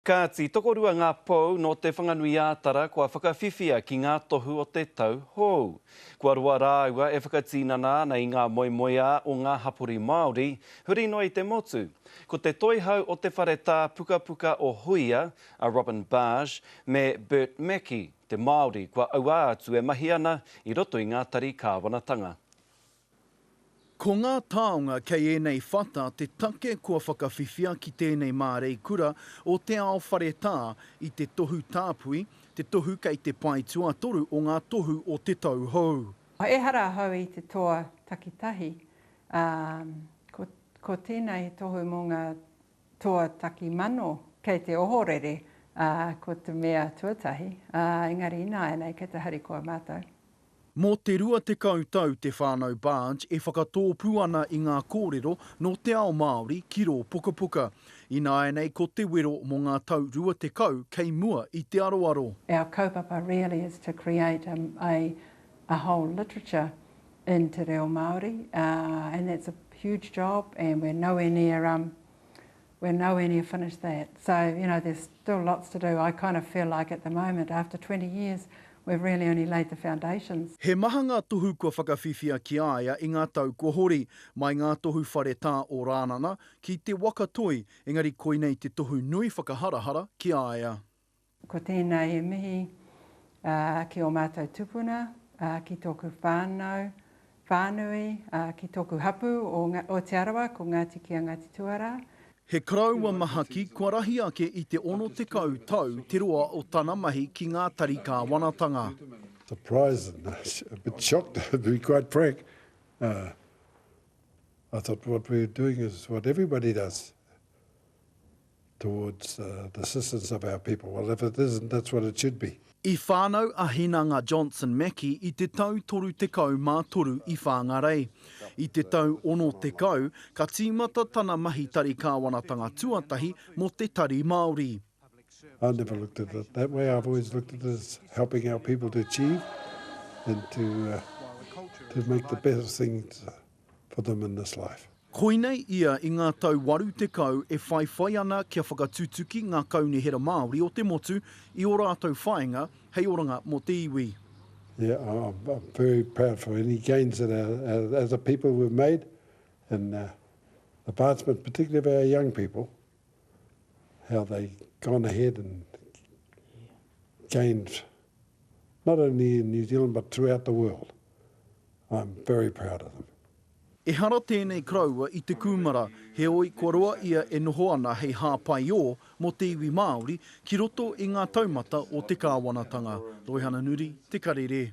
Kāti, tokorua ngā pou nō Te Whanganui-ā-Tara kua whakawhiwhia ki ngā tohu o te tau hou. Kua roa rāua e whakatinana ana i ngā moemoeā o ngā hapori Māori, huri noa i te motu. Ko te toihau o te whare tā pukapuka o Huia, a Robin Barge, me Bert Mackie, te Māori kua auā atu e mahi ana i roto i ngā tari kāwanatanga. Ko ngā taonga kei ēnei whata te take kua whakawhiwhia ki tēnei māreikura o Te Ao Wharetā i te tohu tāpui, te tohu kei te pae tuatoru o ngā tohu o te tau hou. Ehara ahau i te toa takitahi, ā, ko, ko tēnā he tohu mō ngā toa takimano kei te ohorere, ā, ko te mea tuatahi, ā, engari ināianei kei te harikoa mātou. Mō te 20 tau te whānau Barge e whakatōpū ana i ngā kōrero nō te ao Māori ki rō pukapuka. Ināianei ko te wero mō ngā tau rua tekau kei mua i te aroaro. Our kaupapa really is to create a a whole literature in te reo Māori and that's a huge job and we're nowhere near we're nowhere near finished that so you know there's still lots to do, I kind of feel like at the moment after twenty years we've really only laid the foundations. He maha ngā tohu kua whakawhiwhia ki a ia i ngā tau kua hori, mai ngā tohu whare tā o Rānana ki Te Waka Toi, engari koinei te tohu nui whakaharahara ki a ia. Ko tēnā he mihi ki ō mātou tupuna, ki tōku whānau, whānui, ki tōku hapū o Te Arawa, ko Ngāti Ki a Ngāti Tuarā. He karaua mahaki kua rahi ake i te 60 tau te roa o tana mahi ki ngā tari kāwanatanga. towards the assistance of our people. Well, if it isn't, that's what it should be. I whānau a Hinanga Johnson Mackie i te tau 33 i Whāngarei. I te tau 60, ka tīmata tana mahi tari kāwanatanga tuatahi mō te Tari Māori. I've never looked at it that way. I've always looked at it as helping our people to achieve and to, uh, to make the best things for them in this life. Koinei ia i ngā tau 80 e whaiwhai ana kia whakatutuki ngā kaunihera Māori o te motu i ō rātou whāinga hei oranga mō te iwi. Yeah, I'm very proud for any gains that as a people we've made in the advancement, particularly of our young people, how they gone ahead and gained not only in New Zealand but throughout the world. I'm very proud of them. Ehara tēnei karaua i te kūmara, heoi kua roa ia e noho ana hei hāpai ō mō te iwi Māori ki roto i ngā taumata o te kāwanatanga. Roihana Nuri, Te Karere.